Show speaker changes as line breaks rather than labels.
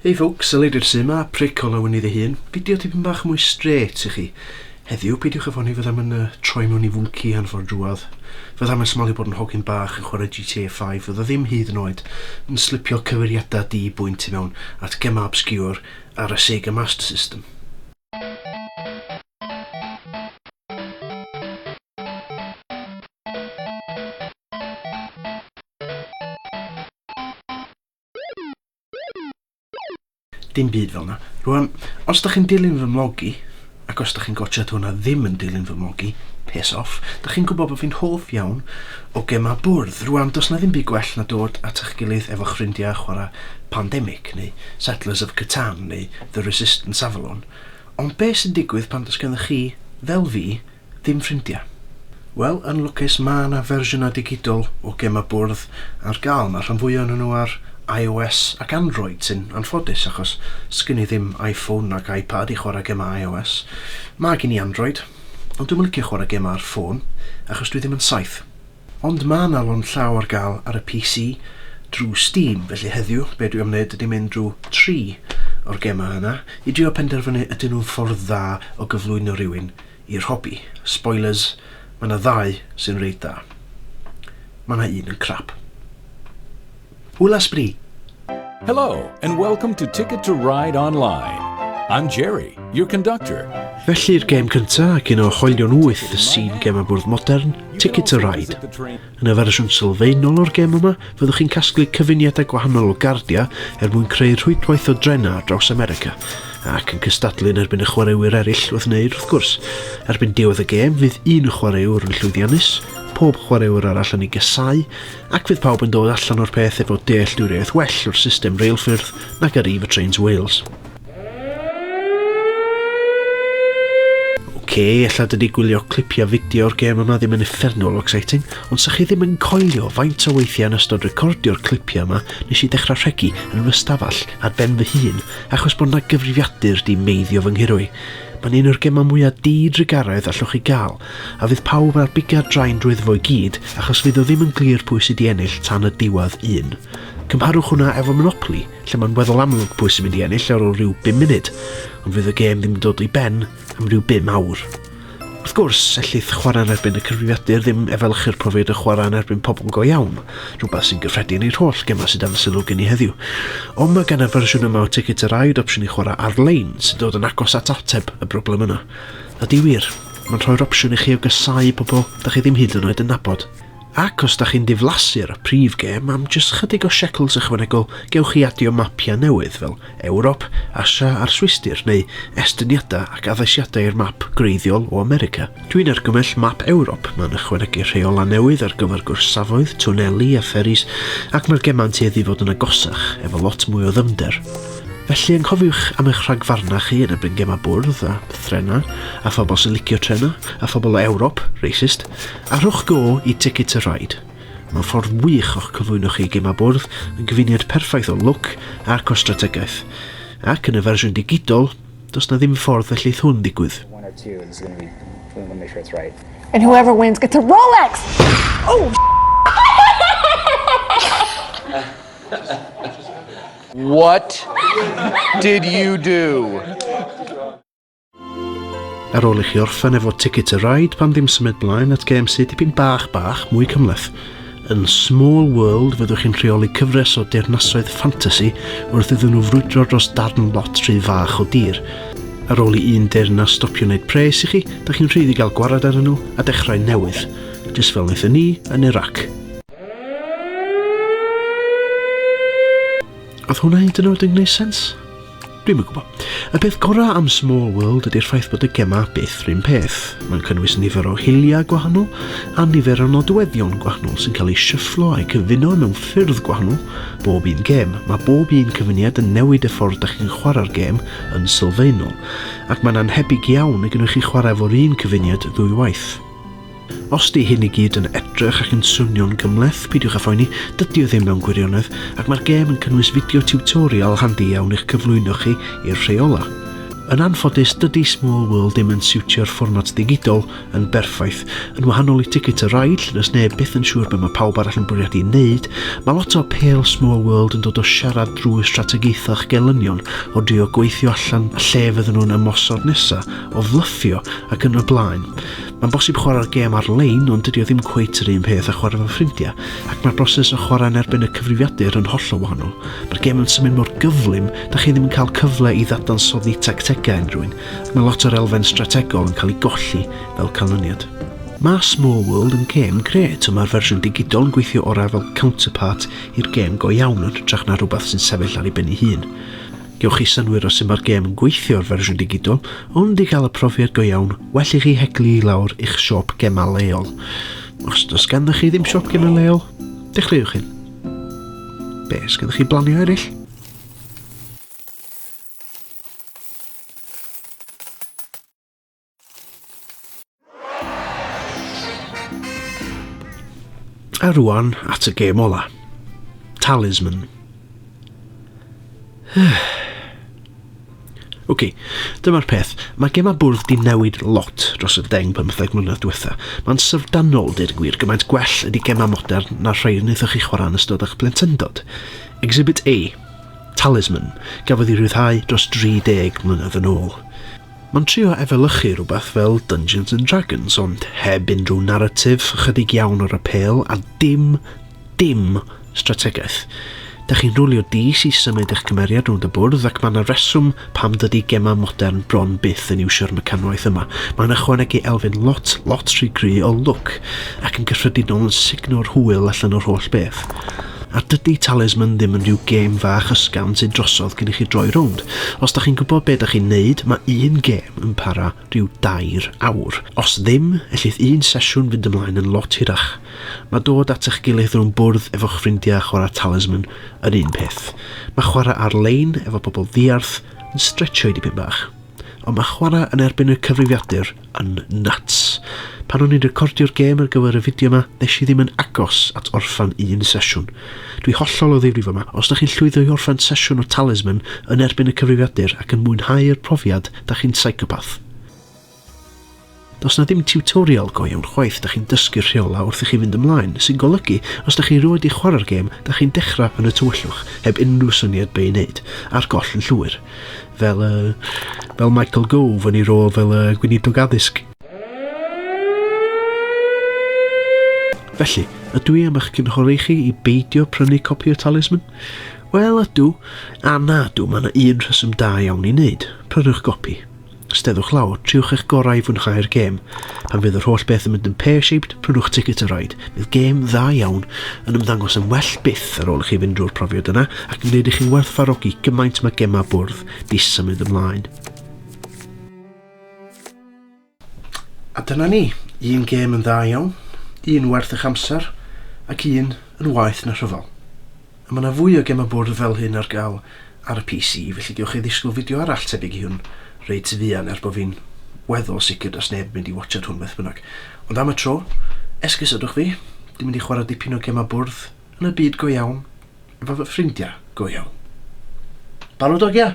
Hey folks, y Lady Rhys yma, prick o lawen iddi hun. Fideo tipyn bach mwy straight i chi. Heddiw, peidiwch â ffoni fyddai'm yn uh, troi mewn i fwnci anfor drwad. Fyddai'm yn smalio bod yn hogyn bach yn chwarae GTA 5, fydda ddim hyd yn oed yn slipio cyfeiriadau di bwynt i mewn at gemau obscure ar y Sega Master System. Dim byd fel 'na. Rwan, os dach chi'n dilyn fy mlog i, ac os dach chi'n gwatsiad hwn a ddim yn dilyn fy mlog i, piss off, dach chi'n gwybod bod fi'n hoff iawn o gemau bwrdd. Rwan, does 'na ddim byd gwell na dod at eich gilydd efo'ch ffrindiau a chwarae Pandemic, neu Settlers of Catan, neu The Resistance Avalon. Ond be' sy'n digwydd pan does gennych chi, fel fi, Dim ffrindia? Wel, yn lwcus ma' 'na fersiynau digidol o gemau bwrdd ar gael, ma' rhan fwya ohonyn nhw ar IOS ac Android sy'n anffodus achos sgin i ddim Iphone nac Ipad i chwarae gemau IOS. Ma' gin i Android, ond dwi'm yn licio chwarae gemau ar ffôn achos dwi ddim yn saith. Ond ma' 'na lond llaw ar gael ar y PC drwy Steam, felly heddiw be' dwi am wneud ydi mynd drwy tri o'r gemau yna i drio penderfynu ydyn nhw'n ffordd dda o gyflwyno rhywun I'r hobi, spoilers, mae yna ddau sy'n reit dda. Mae yna un yn crap. Hwyl a sbri! Hello,
and welcome to Ticket to Ride Online. I'm Jerry, your conductor. Felly'r gêm
cyntaf ac un o hoelion wyth y sîn gemau bwrdd modern, Ticket to Ride. Yn y fersiwn sylfaenol o'r gêm yma, fyddwch chi'n casglu cyfuniadau gwahanol o gardiau er mwyn creu rhwydwaith o drenau ar draws America, ac yn cystadlu yn erbyn y chwaraewyr eraill wrth wneud, wrth gwrs. Erbyn diwedd y gêm, fydd un chwaraewr yn llwyddiannus, pob chwaraewr arall yn ei gasáu, ac fydd pawb yn dod allan o'r peth efo dealltwriaeth well o'r system reilffyrdd nag ar Eve Trains Wales. Ok, ella dyn ni gwylio clipia fideo o'r gêm yma ddim yn effernol o exciting, ond sa chi ddim yn coelio faint o weithiau yn ystod recordio'r clipia yma nes i dechrau rhegi yn fy stafell ar ben fy hun achos bod na gyfrifiadur di meiddio fy nghurwy. Mae'n un o'r gemau mwyaf di-drugaredd allwch chi gael, a fydd pawb ar bigad draen drwyddo fo i gyd achos fydd o ddim yn glir pwy sydd di ennill tan y diwedd un. Cymharwch hwnna efo Monopoly, lle mae'n weddol amlwg pwy sy'n mynd i ennill ar ôl rhyw 5 munud, ond fydd y gêm ddim yn dod i ben am rhyw 5 awr. Wrth gwrs, ellith chwarae yn erbyn y cyfrifiadur ddim efelychu'r profiad o chwarae yn erbyn pobl go iawn, rhywbeth sy'n gyffredin i'r holl gemau sydd dan sylw gen i heddiw. Ond mae gan y fersiwn yma o Ticket to Ride opsiwn i chwarae ar-lein sy'n dod yn agos at ateb y broblem yna. Ydy wir, mae'n rhoi'r opsiwn i chi o gasau pobl da chi ddim hyd yn oed yn nabod. Ac os da chi'n diflasu ar y prif gêm, am jyst chydig o shekels ychwanegol gewch chi adio mapiau newydd fel Ewrop, Asia a'r Swistir neu estyniadau ac addasiadau i'r map gwreiddiol o America. Dwi'n argymell Map Ewrop, mae'n ychwanegu rheolau newydd ar gyfer gorsafoedd, twneli a fferis ac mae'r gemau'n tueddu i fod yn agosach, efo lot mwy o ddyfnder. Felly anghofiwch am eich rhagfarnau chi yn erbyn gemau bwrdd a threnau a phobl sy'n licio trenau a phobl o Ewrop, racist, A rhowch go i Ticket to Ride. Mae'n ffordd wych o'ch cyflwyno chi i gemau bwrdd, yn gyfuniad perffaith o lwc ac o strategaeth. Ac yn y fersiwn digidol, does 'na ddim ffordd y lleith hwn ddigwydd.
And whoever wins gets a Rolex!
What did you do?
Ar ôl i chi orffen efo Ticket to Ride, pan ddim symud blaen at gêm sydd dipyn bach bach mwy cymleth. Yn Small World, fyddwch chi'n rheoli cyfres o deyrnasoedd ffantasi wrth iddyn nhw frwydro dros darn lot rhy fach o dir. Ar ôl i un deyrnas stopio wneud pres i chi, da chi'n rhydd i gael gwared ar nhw a dechrau newydd, jyst fel wnaethon ni yn Iraq. Oedd hwnna hyd yn oed yn gwneud sens? Dwi'm yn gwybod. Y peth gorau am Small World ydy'r ffaith bod y gemau byth rhywun peth. Mae'n cynnwys nifer o hiliau gwahanol a nifer o nodweddion gwahanol sy'n cael eu shufflo a'u cyfuno mewn ffyrdd gwahanol bob un gem. Mae bob un cyfuniad yn newid y ffordd da chi'n chwarae'r gem yn sylfaenol, ac mae'n annhebyg iawn y gwnewch chi chwarae efo'r un cyfuniad ddwy waith. Os 'di hyn i gyd yn edrych ac yn swnio'n gymhleth, peidiwch â phoeni, dydi o ddim mewn gwirionedd, ac mae'r gêm yn cynnwys fideo tiwtorial handi iawn i'ch cyflwyno chi i'r rheolau. Yn anffodus, dydi Small World ddim yn siwtio'r fformat ddigidol yn berffaith. Yn wahanol i Ticket to Ride, lle does neb byth yn siŵr be mae pawb arall yn bwriadu ei wneud, mae lot o apêl Small World yn dod o siarad drwy strategaethau'ch gelynion, o drio gweithio allan lle fydden nhw'n ymosod nesa', o flyffio, ac yn y blaen. Mae'n bosib chwarae'r gêm ar-lein ond dydy o ddim cweit yr un peth â chwarae fel ffrindiau, ac mae'r broses o chwarae yn erbyn y cyfrifiadur yn hollol wahanol. Mae'r gêm yn symud mor gyflym, da chi ddim yn cael cyfle i ddadansoddi tactegau unrhywun, ac mae lot o'r elfen strategol yn cael ei golli fel canlyniad. Mae Small World yn gêm grêt ond mae'r fersiwn digidol yn gweithio orau fel counterpart i'r gêm go iawn yn hytrach na rhywbeth sy'n sefyll ar ei ben ei hun. Gewch chi synnwyr o sut mae'r gêm yn gweithio o'r fersiwn digidol, ond i gael y profiad go iawn, well i chi heglu i lawr i'ch siop gemau leol. Os does ganddo chi ddim siop gemau leol, dechreuwch hyn. Be, os ganddo chi blanio eraill? A rwan at y gêm ola. Talisman. OK, dyma'r peth. Mae gemau bwrdd di newid lot dros y deng pymtheg mlynedd diwetha. Mae'n syfrdanol, deud gwir, gymaint gwell ydy gemau modern na'r rhai wnaethoch chi chwarae yn ystod eich plentyndod. Exhibit A, Talisman, gafodd ei rhyddhau dros 30 mlynedd yn ôl. Mae'n trio efelychu rhywbeth fel Dungeons and Dragons ond heb unrhyw naratif, ychydig iawn o'r apêl a dim, dim strategaeth. Dych chi'n rhwlio dis i symud eich cymeriad rownd y bwrdd ac mae 'na reswm pam dydy gemau modern bron byth yn iwsio'r mecanwaith yma. Mae'n ychwanegu elfen lot, lot rhy gry o lwc ac yn gyffredinol yn sugno'r hwyl allan o'r holl beth. A dydi Talisman ddim yn rhyw gêm fach ysgafn sydd drosodd cyn i chi droi rownd. Os da chi'n gwybod be da chi'n neud, ma un gêm yn para rhyw dair awr. Os ddim, ellith un sesiwn fynd ymlaen yn lot hirach. Ma dod at eich gilydd rownd bwrdd efo'ch ffrindia a chwara Talisman yr un peth. Ma chwara ar lein efo pobl ddiarth yn stretchio i dipyn bach. Ond ma chwara yn erbyn y cyfrifiadur yn nuts. Pan o'n i'n recordio'r gêm ar gyfer y fideo yma, nes i ddim yn agos at orffan un sesiwn. Dwi hollol o ddifrif yma, os da chi'n llwyddo i orffan sesiwn o Talisman yn erbyn y cyfrifiadur ac yn mwynhau'r profiad, da chi'n psychopath. Does na ddim tutorial go iawn chwaith, da chi'n dysgu'r rheola wrth i chi fynd ymlaen, sy'n golygu, os da chi rioed i chwarae'r gêm, da chi'n dechrau yn y tywyllwch, heb unrhyw syniad be i wneud, a'r goll yn llwyr. fel, uh, fel Michael Gove yn ei rôl fel uh, gweinidog addysg. Felly, ydw i am eich cynghori chi i beidio prynu copi o Talisman? Wel, ydw, a na ydw, mae yna un rheswm da iawn i wneud. Prynwch gopi. Steddwch lawr, triwch eich gorau i fwynhau'r gêm. Pan fydd yr holl beth yn mynd yn pear-shaped, prynwch ticket y rhaid. Bydd gêm dda iawn yn ymddangos yn well byth ar ôl i chi fynd drwy'r profiad yna ac yn gwneud i chi werthfarogi gymaint mae gemau bwrdd di symud ymlaen. A dyna ni, un gêm yn dda iawn, un werth eich amser ac un yn waeth na rhyfel. Mae 'na fwy o gemau bwrdd fel hyn ar gael ar y PC, felly gewch chi ddisgwyl fideo arall tebyg i hwn reit fuan er bod fi'n weddol sicr does neb yn mynd i watsiad hwn beth bynnag. Ond am y tro, esgusodwch fi, dwi'n mynd i chwarae dipyn o gemau bwrdd yn y byd go iawn efo fy ffrindiau go iawn. Barod ogia?